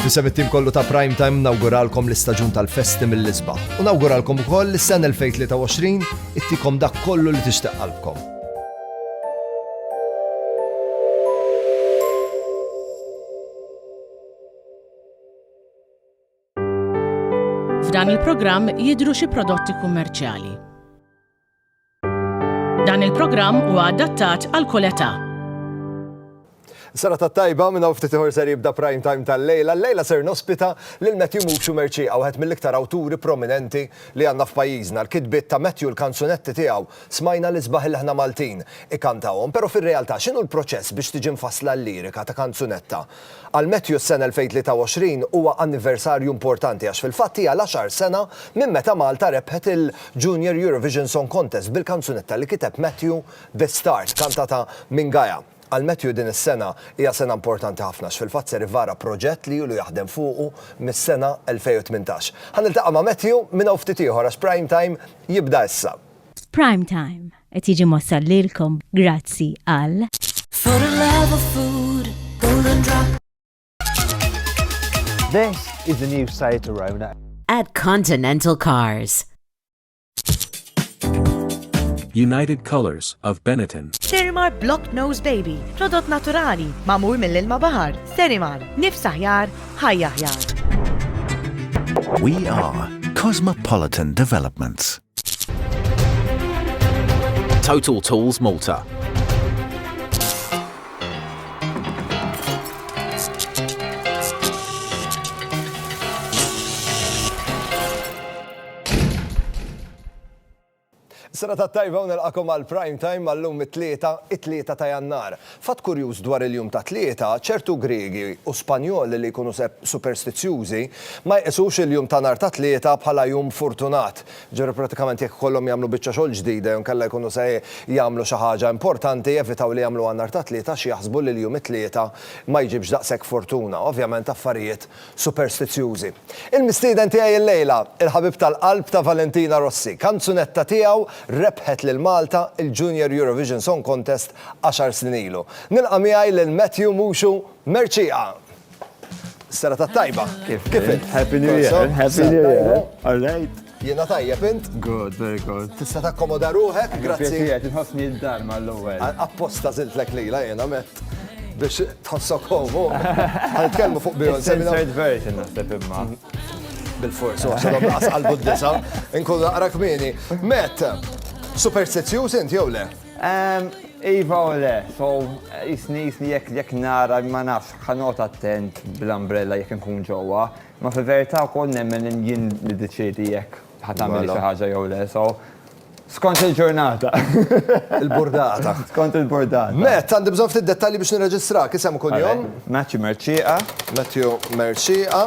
Fisem it-tim kollu ta' Prime Time nawguralkom l-istaġun tal-festi mill-isbaħ. U nawguralkom ukoll li s-sena 2023 ittikom dak kollu li tixtieq qalbkom. F'dan il-programm jidru xi prodotti kummerċjali. Dan il-programm huwa adattat għal kull età. Sara ta' tajba minna ftit iħor ser jibda prime time tal-lejla. Lejla ser nospita lil Matthew Muxu Merċi għawħet mill-iktar awturi prominenti li għanna f'pajjiżna. L-kitbiet ta' Matthew l-kanzunetti tiegħu smajna li sbaħ il-ħna Maltin ikantawhom, pero fir-realtà x'inhu l-proċess biex tiġi mfassla l-lirika ta' kanzunetta Għal Matthew s-sena 2023 huwa anniversarju importanti għax fil-fatt hija l-għaxar sena minn meta Malta rebħet il-Junior Eurovision Song Contest bil-kanzunetta li kiteb Matthew The Start kantata minn Gaia. Għal Matthew din is-sena hija sena importanti ħafna għax fil-fatt ser ivara proġett li ilu jaħdem fuqu mis-sena 2018. Ħa niltaqa' ma' Matthew minn hawn ftit ieħor għax Prime Time jibda issa. F'Prime Time Qed jiġi mwassal lilkom grazzi għal. For the love of food, golden drop. This is the new Seat Arona. At Continental Cars. United Colors of Benetton. Sterimar Block Nose Baby, prodott naturali, mamur mill-ilma bahar. Sterimar, nifs aħjar, ħajja aħjar. We are Cosmopolitan Developments. Total Tools Malta. Sena ta' tajba u nilqakom għal prime time għallum it-tlieta, it-tlieta ta' jannar. Fatt kurjuż dwar il-jum tat-Tlieta, ċertu Griegi u Spanjoli li jkunu superstizzjużi ma jqisux il-jum ta' nhar tat-Tlieta bħala jum fortunat. Jiġifieri prattikament jekk ikollhom jagħmlu biċċa xogħol ġdida jew inkella jkunu se jagħmlu xi ħaġa importanti jevitaw li jagħmluha nhar tat-Tlieta għax jaħsbu li l-jum it-Tlieta ma jġibx daqshekk fortuna. Ovvjament affarijiet superstizzjużi. Il-mistieden tiegħi illejla, il-ħabib tal-qalb ta' Valentina Rossi. Kanzunetta tiegħu rebħet lil Malta il-Junior Eurovision Song Contest għaxar snin ilu. Nilqa' miegħi lil Matthew Muxu Mercieqa. Serata tajba. Kif int? Happy New Year. Happy New Year. All right. Jiena tajjeb int? Good, very good. Tista' takkomoda ruħek, grazzi. Grazzi, tħossni d-dar mal-ewwel. Apposta żiltlek lila jiena met biex tħossok homu. Għal-kelmu fuq bijon. Third version naħseb imma. Bil-fors, u għaxħadom naqas għal-buddisa, nkun naqra kmini. Met, superstizjuż int jew le? Ehm, iva u le, so jisni jisni jekk jekk nara ma nafx ħanot attent bl-umbrella jekk nkun ġewwa, ma fi verità wkoll nemmen jien niddeċiedi jekk ħatamil xi ħaġa jew le, so skont il-ġurnata. Il-burdata. Skont il-burdata. Met, għandi bżonn ftit dettalji biex nirreġistrak, isem u kunjom. Matthew Merċieqa. Matthew Merċieqa.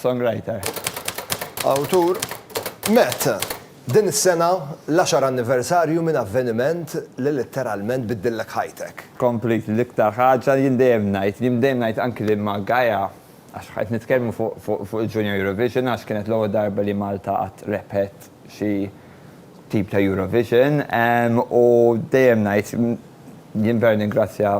Songwriter. Awtur. Met. Din is-sena l-għaxar anniversarju minn avveniment li litteralment biddillek ħajtek. Completely, l-iktar ħaġa jien dejjem ngħid, jien dejjem ngħid anki lil ma' Gaia, għax qed nitkellmu fuq il-Junior Eurovision għax kienet l-ewwel darba li Malta qatt rebħet xi tip ta' Eurovision u dejjem ngħid jien vera ningrazzja,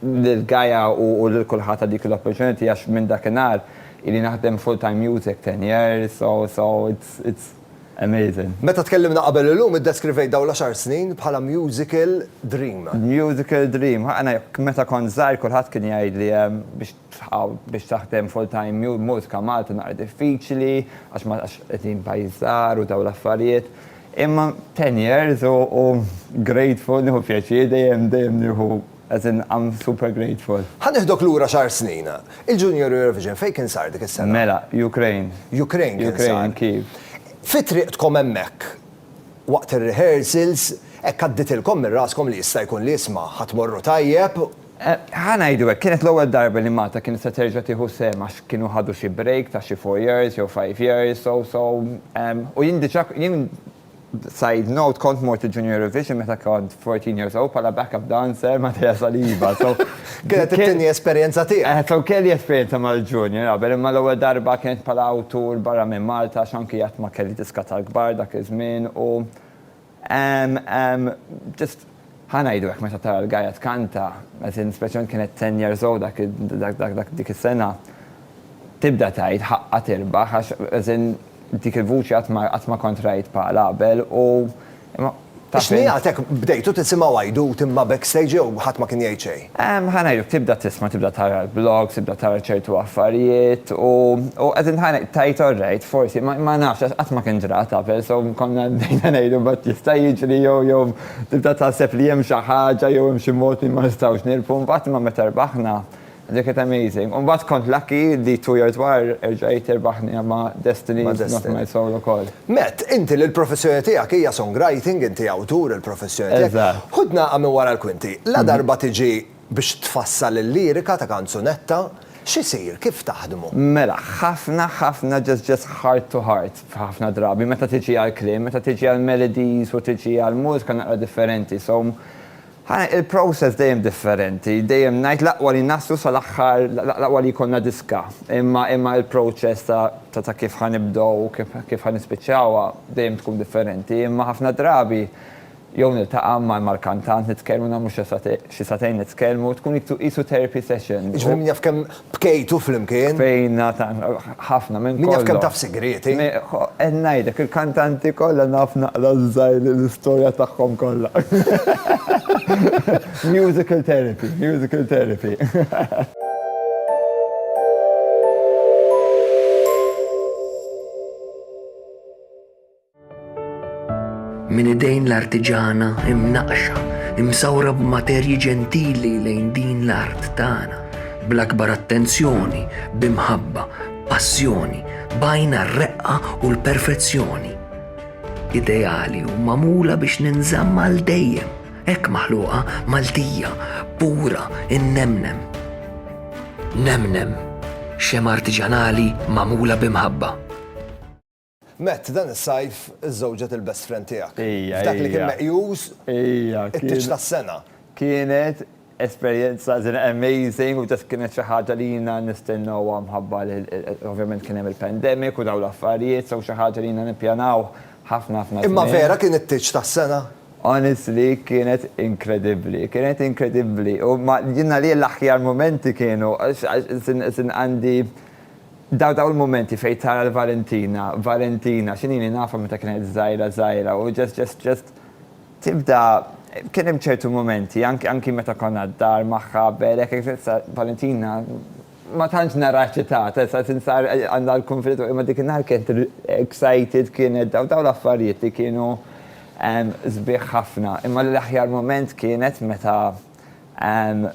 lil Gaia u lil kulħadd għal dik l-opportunity għax minn dakinhar ili naħdem full time music ten years so so it's it's amazing. Meta tkellimna qabel illum iddeskrivejt dawn l-għaxar snin bħala musical dream. Musical dream, ħa ana jekk meta kont żgħir kulħadd kien jgħidli biex tħaw biex taħdem full time mju mużika Malta naqra diffiċli għax ma għax qegħdin pajjiż żgħar u dawn l-affarijiet. Imma ten years u u grateful nieħu pjaċir dejjem dejjem nieħu as in I'm super grateful. Ħa nieħdok lura xahar snin. Il-Junior Eurovision fejn kien sar dik is-sena? Mela, Ukraine. Ukraine kien sar. Ukraine, Kyiv. Fi triqtkom hemmhekk, waqt ir-rehearsals, hekk għadditilkom minn raskom li jista' jkun li isma' ħa tmorru tajjeb Ħa ngħidu hekk, kienet l-ewwel darba li Malta kienet se terġa' tieħu sehem għax kienu ħadu xi break ta' xi four years jew five years so so u jien diġà jien side note kont mort il-Junior Eurovision meta kont fourteen years old bħala back up dancer ma' Tea Saliba so Kienet it-tieni esperjenza tiegħek. So kelli esperjenza mal-Junior qabel imma l-ewwel darba kienet bħala awtur barra minn Malta għax anki qatt ma kelli diska tal-kbar dak iż-żmien u Ehm, ehm, just, ħa ngħidu hekk meta tara l-Gaia tkanta, as in, speċjalment kienet ten years old dak, dak, dak, dak, dik is-sena, tibda tgħid ħaqqa tirbaħ għax, as in, dik il-vuċi qatt ma, qatt ma kont rajt bħalha qabel u, imma, taf int. X'nigħatek bdejtu tisimgħu għajdut imma backstage jew ħadd ma kien jgħid xejn? Ħa ngħidlek, tibda tisma', tibda tara l-blogs, tibda tara ċertu affarijiet u qegħdin ħa ngħid, tgħid all right, forsi, ma nafx għax qatt ma kien ġrat qabel, so konna bdejna ngħidu mbagħad jista' jiġri jew jew tibda taħseb li hemm xi ħaġa jew hemm xi mod li ma nistgħux nirbħu, mbagħad imma meta rbaħna, dik kienet amazing. U mbagħad kont lucky li two years wara erġajt irbaħni ma' Destiny, Knock My Soul ukoll. Matt, inti li l-professjoni tiegħek hija songwriting, inti awtur, il-professjoni tiegħek. Eżatt. Ħud nagħqa minn wara l-kwinti. La darba tiġi biex tfassal il-lirika ta' kanzunetta, x'isir, kif taħdmu? Mela, ħafna, ħafna just just heart to heart ħafna drabi meta tiġi għall-kliem, meta tiġi għall-melodies u tiġi għall-mużika naqra differenti. So, Ħa il-process dejjem differenti. Dejjem ngħid l-aqwa li naslu sal-aħħar, l-aqwa li jkollna diska. Imma imma il-process ta' ta' ta' kif ħa nibdew u kif kif ħa nispiċċawha dejjem tkun differenti. Imma ħafna drabi jew niltaqa' ma' mal-kantant nitkellmu nagħmlu xi xi sagħtejn nitkellmu, tkun qisu qisu therapy session. Jiġifieri min jaf kemm Bkejtu flimkien? Bkejna tant, ħafna minn kollox. Min jaf kemm taf sigrieti. Qed ngħidlek, il-kantanti kollha naf naqra żgħir l-istorja tagħhom kollha. Musical therapy, musical therapy. Minn idejn l-artiġana imnaqxa, imsawra b'materji ġentili lejn din l-art tagħna, bl-akbar attenzjoni, b'imħabba, passjoni, bajna r-reqqa u l-perfezzjoni. Ideali u mamula biex ninżamm għal dejjem, hekk maħluqa Maltija, pura, innemnem. Nemnem, xema artiġanali mamula b'imħabba. Matt, dan is-sajf żżewġet il-best friend tiegħek. Ija, F'dak li kien meqjus it-tieġ tas-sena. Kienet esperjenza amazing u just kienet xi ħaġa li jiena nistennewha mħabba li ovvjament kien hemm il-pandemic u dawn l-affarijiet, so xi ħaġa li jiena nippjanaw ħafna ħafna żmien. Imma vera kien it-tieġ tas-sena? Honestly, kienet inkredibbli. Kienet inkredibbli. U jiena għalija l-aħjar mumenti kienu għax għandi Daw daw il-mumenti fejn tara l-Valentina, Valentina, x'inhi li nafha meta kienet żgħira żgħira u just just just tibda kien hemm ċertu mumenti anki anki meta konna d-dar magħha b'Erek hekk issa Valentina ma tantx naraha eċitata issa tinsar għandha l-kunfident imma dik in-nhar kienet excited kienet daw daw l-affarijiet li kienu sbieħ ħafna imma l-aħjar mument kienet meta Anne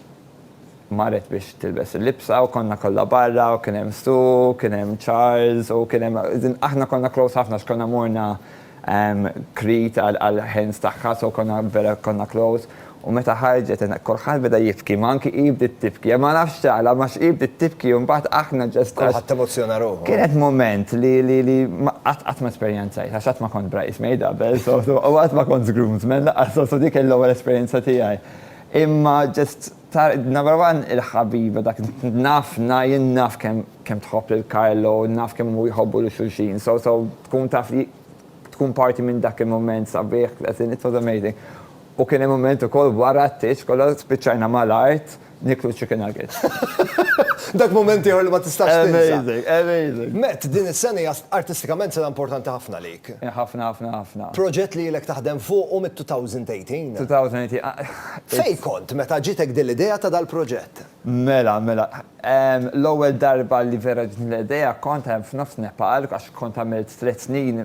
marret biex tilbes il-libsa u konna kollha barra u kien hemm Sue, kien hemm Charles u kien hemm aħna konna close ħafna għax konna morna Crete għall-hens tagħha so konna vera konna close u meta ħarġet kulħadd beda jibki ma anki hi bdiet tibki ma nafx għala ma hi bdiet tibki u mbagħad aħna just għax. Kulħadd emozzjona ruħu. Kienet mument li qatt qatt ma esperjenza. Żgħir, għax qatt ma kont bridesmaid qabel, so u qatt ma kont groomsman lanqas, so so dik hi l-ewwel esperjenza tiegħi. Imma ġust ta' number one il-ħabiba dak naf na jien naf kemm kemm tħobb lil Carlo, naf kemm huma jħobbu lil xulxin, so so tkun taf li tkun parti minn dak il-mument sabiħ, as in it was amazing. U kien hemm mument ukoll wara t-tieġ kollha spiċċajna mal-art nieklu chicken nuggets. Dak mument ieħor li ma tistax tinsa. Amazing, amazing. Matt, din is-sena hija artistikament sena importanti ħafna għalik. Ħafna, ħafna, ħafna. Proġett li ilek taħdem fuqu mit-2018. 2018. Fejn kont meta ġitek din l-idea ta' dal-proġett? Mela, mela. L-ewwel darba li vera ġitni l-idea kont hemm f'nofs Nepal għax kont għamilt tliet snin,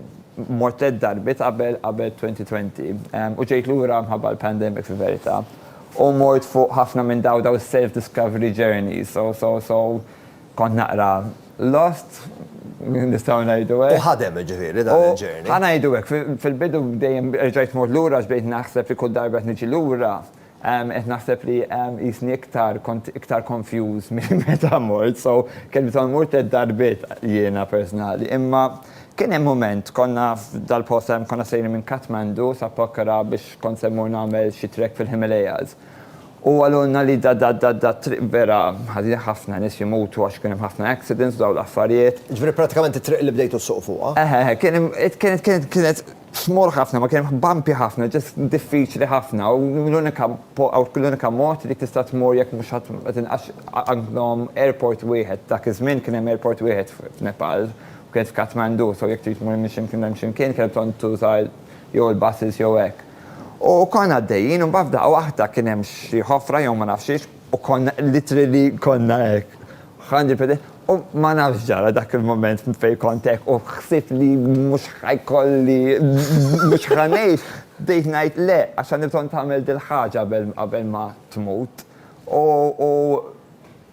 mort tliet darbiet qabel qabel 2020. U ġejt lura mħabba l-pandemic fil-verità. U mort fuq ħafna minn dawn dawn is-self discovery journeys. So, so, so, kont naqra lost, nistgħu ngħidu hekk. U ħadem ġifieri dan il-journey? U ħa ngħidu hekk, fil-bidu dejjem erġajt mort lura għax bdejt naħseb li kull darba qed niġi lura Qed naħseb li qisni iktar kont iktar konfjuż milli meta mort, so kelmithom mort tliet darbiet jiena personali. Imma kien hemm mument konna f'dal-post konna sejrin minn Kathmandu sa Pokhara biex kont se mmur nagħmel xi trek fil-Himalayas. U qalulna li dat-triq vera ħażin ħafna nies imutu għax kien hemm ħafna accidents u dawn l-affarijiet. Jiġifieri prattikament it-triq li bdejtu ssuqu fuqha? Eħe eħe kienet kienet kienet kienet Small ħafna, ma kien bumpy ħafna, just diffiċli ħafna u l-unika l-unika mod li tista' tmur jekk mhux ħadd ma tinqax għandhom airport wieħed, dak iż-żmien kien hemm airport wieħed f'Nepal u kien f'Kathmandu, so jekk trid tmur minn xi mkien lejn xi mkien kellek bżonn tuża jew il-buses jew hekk. U konna għaddejjin u mbagħad f'daqqa waħda kien hemm xi ħofra jew ma nafx xiex u konna literally konna hekk. Ħanġi f'idejh u ma nafx x'ġara dak il-mument fejn kont hekk u ħsibt li mhux ħa jkolli mhux ħa ngħix, bdejt ngħid le għax għandi bżonn tagħmel dil-ħaġa qabel ma tmut u u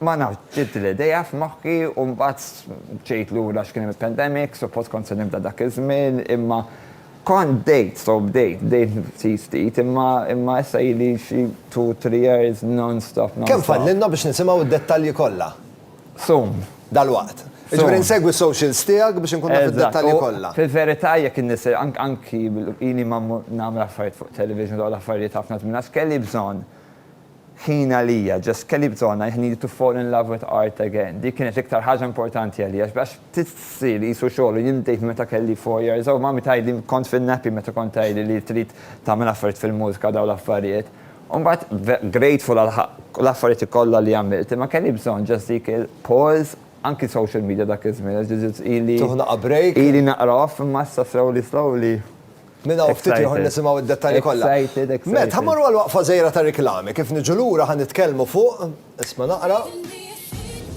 ma nafx ġiet l-idea f'moħħi u mbagħad ġejt lura għax kien hemm il-pandemic, suppost kont se nibda dak iż-żmien imma Kont bdejt, so bdejt, bdejt ftit ftit, imma imma issa ili xi two, three years non-stop, non-stop. Kemm fadlilna biex nisimgħu d-dettalji kollha? Soon. Dalwaqt. Jiġifieri insegwi s-socials tiegħek biex inkun naf id-dettalji kollha. Eżatt. U fil-verità jekk in-nies anki ili ma mmur nagħmel affarijiet fuq television u dawn l-affarijiet ħafna żmien għax kelli bżonn ħin għalija, ġas kelli bżonn I needed to fall in love with art again. Dik kienet l-iktar ħaġa importanti għalija għax bdiet ssir qisu xogħol u jien bdejt minn meta kelli four years old. Mommy tgħidli kont fin-nappy meta kont tgħidli li trid tagħmel affarijiet fil-mużika u dawn l-affarijiet. U mbagħad grateful għal l affarijiet kollha li għamilt imma kelli bżonn ġas dik il pause anki social media dak iż-żmien għax ġiġiet ili Tieħu naqqa' break. ili naqra off imma issa slowly slowly. Minn hawn ftit ieħor nisimgħu d-dettalji kollha. Excited, excited. Matt, ħa mmorru għal waqfa żgħira ta' riklami. Kif niġu lura ħa nitkellmu fuq, isma' naqra.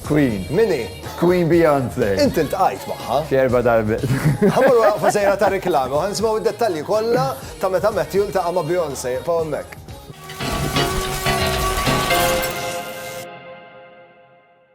Queen. Min hi? Queen Beyonce. Inti ltqajt magħha. Xi erba' darbiet. Ħa mmorru għal waqfa żgħira ta' riklami u ħa nisimgħu d-dettalji kollha ta' meta Matthew ltaqa' ma' Beyonce. Iqfgħu hemmhekk.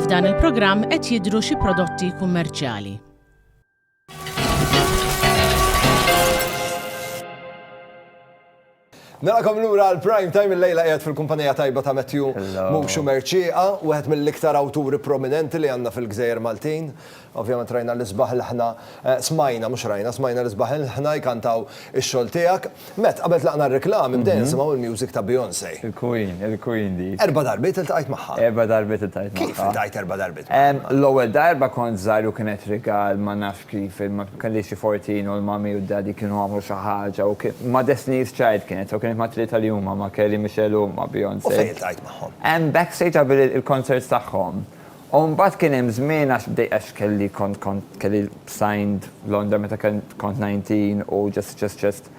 F'dan il-programm qed jidhru xi prodotti kummerċjali. Narakom l-ura għal-prime time il-lejla għed fil-kumpanija tajba ta' Matthew Muxu Merċiqa, u għed mill-iktar awturi prominenti li għanna fil-gżejjer Maltin. Ovvjament rajna l-isbaħ il ħna smajna, mhux rajna, smajna l-isbaħ il ħna jkantaw ix-xogħol tiegħek. Mett, qabel tlaqna r-reklami bdejna nisimgħu il-music ta' Beyoncé. Il-Queen, il-Queen dik. Erba' darbiet iltqajt magħha. Erba' darbiet iltqajt magħha. Kif iltqajt erba' darbiet magħha? L-ewwel darba kont żgħir u kienet rigal ma nafx kif, ma kellix xi fortin u l-mummy u d-daddy kienu għamlu xi ħaġa u kien, ma' Destiny's Child kienet, so kienet ma' tlieta li huma, ma' Kelly, Michelle u ma' Beyoncé. U fejn iltqajt magħhom? Backstage qabel il-concerts tagħhom. U mbagħad kien hemm żmien għax bdejt għax kelli kont kont kelli signed Londra meta kent kont 19 u just just just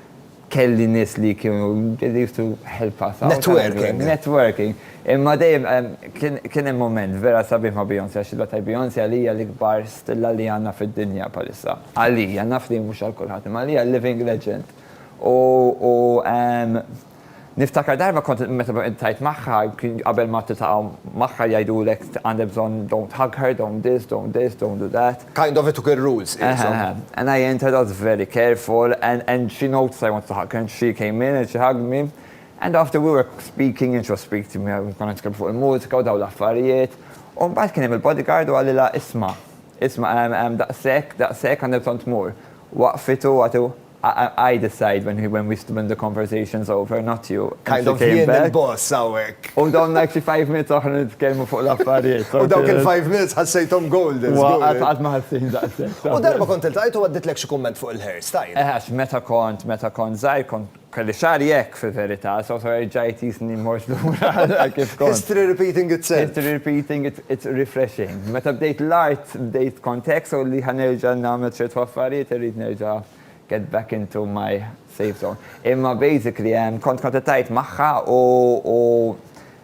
kelli nies li kienu they used to help us out. Networking. Networking. Imma dejjem kien kien hemm mument vera sabiħ ma' Beyonce għax illa tgħid Beyonce għalija l-ikbar stilla li għandna fid-dinja bħalissa. Għalija, naf li mhux għal kulħadd, imma għalija living legend. U u. Niftakar darba kont meta qed tgħid magħha qabel ma titaqgħu magħha jgħidulek għandek bżonn don't hug her, don't this, don't this, don't do that. Kind of it took ir-rules qishom. And I entered, I was very careful and and she noticed I wanted to hug her and she came in and she hugged me and after we were speaking and she was speaking to me konna nitkellmu fuq il-mużika u dawn l-affarijiet u mbagħad kien hemm il-bodyguard u qalilha isma' isma' hemm hemm daqshekk daqshekk għandek bżonn tmur. Waqqfithu u għatu I decide when when we when the conversation's over, not you. Kind of jien il-boss hawnhekk. U domna xi five minutes oħra nitkellmu fuq l-affarijiet. U dawk il-five minutes ħassejthom golden. Qatt ma ħassejt daqshekk. U darba kont iltqajt u għadditlek xi kumment fuq il-hair style. Eh għax meta kont meta kont żgħir kont kelli xagħri hekk fil-verità, so so erġa' jtisni mmorx lura għal kif kont. History repeating itself. History repeating itself. It's refreshing. Meta bdejt l-art, bdejt kont hekk, so li ħa nerġa' nagħmel ċertu affarijiet irrid nerġa' get back into my safe zone. Imma basically hemm kont kont qed ngħid magħha u u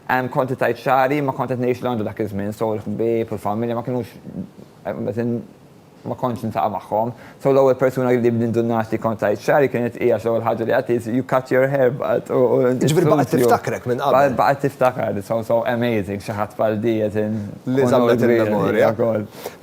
hemm kont qed ngħid xagħri ma kont qed ngħix Londra dak iż-żmien, so l-ħbieb u l-familja ma kinux qed in Ma kontx niltaqa' magħhom. So l-ewwel persuna li b'nindunat li kont għidt xagħri kienet hi għax l-ewwel ħaġa li għidt hi, You cut your hair but u u inti Jiġifieri baqgħet tiftakrek minn qabel. Baqgħet tiftakarni, so so amazing xi ħadd bħal di qed in Li żammet il-memorja.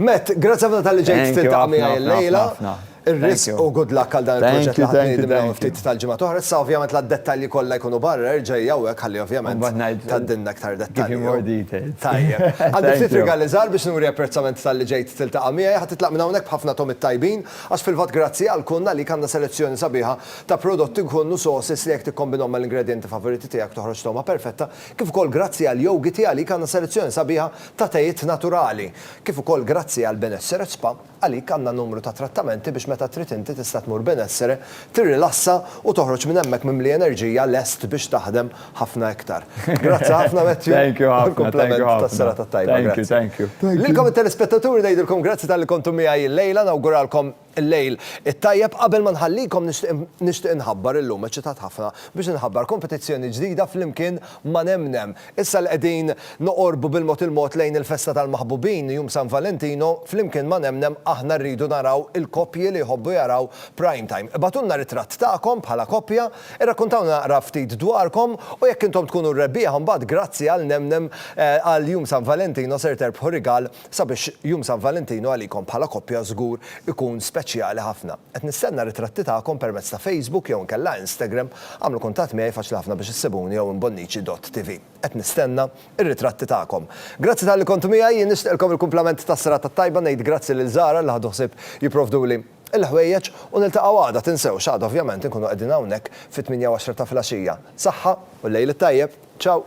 Matt, grazzi ħafna talli ġejt tiltaqa' miegħi illejla. Thank you ħafna ħafna. Ir-risq u good luck għal dan il-proġett li ħadd ngħidilna minn ftit tal-ġimgħat oħra. Issa ovvjament la d-dettalji kollha jkunu barra, erġa' ejja hawnhekk ħalli ovvjament tgħaddilna iktar dettalji. Give me more details. Tajjeb. Għandi ftit rigali żgħar biex nuri apprezzament talli ġejt tiltaqa' miegħi. Ħa titlaq minn hawnhekk b'ħafna togħmiet tajbin, għax fil-fatt grazzi għal Kun għalik għandna selezzjoni sabiħa ta' prodotti Kun u sauces li jekk tikkombinhom mal-ingredjenti favoriti tiegħek toħroġ togħma perfetta, kif ukoll grazzi għal Yoghity għalik għandna selezzjoni sabiħa ta' tejiet naturali, kif ukoll grazzi għal Benesseret Spa. Għalik għandna numru ta' trattamenti biex meta trid inti tista' tmur benessere, tirrilassa u toħroġ minn hemmhekk mimli enerġija lest biex taħdem ħafna iktar. Grazzi ħafna Matthew. Thank you ħafna. Għall-kumplament tas-serata t-tajba. Grazzi. Thank you, thank you. Lilkom it-telespettaturi ngħidilkom grazzi talli kontu miegħi llejla, nawguralkom il-lejl it-tajjeb. Qabel ma nħallikom nixtieq nixtieq inħabbar illum eċċitat ħafna biex inħabbar kompetizzjoni ġdida flimkien ma' Nemnem. Issa li qegħdin noqorbu bil-mod il-mod lejn il-festa tal-maħbubin, jum San Valentino, flimkien ma' Nemnem aħna rridu naraw il-koppji li jħobbu jaraw Prime Time. Ibgħatulna ritratt tagħkom bħala koppja, irrakkuntawna naqra ftit dwarkom u jekk intom tkunu r-rebbieħa mbagħad grazzi għal Nemnem għal jum San Valentino ser terbħu rigal Sabiex Jum San Valentinu għalikom bħala koppja żgur ikun speċjali ħafna. Qed nistenna ritratti tagħkom permezz ta' Facebook jew inkella Instagram, għamlu kuntatt miegħi faċli ħafna biex issibuni jew inbonnici dott TV. Qed nistenna r-ritratti tagħkom. Grazzi talli kontu miegħi, jien nixtieqlkom il-kumplament tas-serata t-tajba, ngħid grazzi lil Zara li ħadu ħsieb jipprovduli l-ħwejjeġ u niltaqgħu għada, tinsewx għada ovvjament inkunu qegħdin hawnhekk fit-tmienja u għaxra ta' filgħaxija. Saħħa u lejl it-tajjeb. Ciao!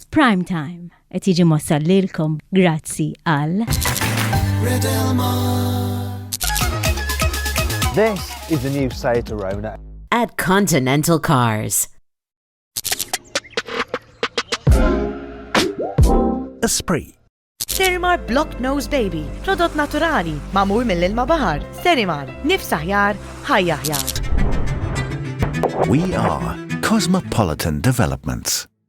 F'Prime Time. Qed jiġi mossal lilkom grazzi għal. This is the new Seat Arona. At Continental Cars. Esprit. Sterimar Block Nose Baby, prodott naturali, mamur mill-ilma bahar. Sterimar, nifsa ħjar, ħajja ħjar. We are Cosmopolitan Developments.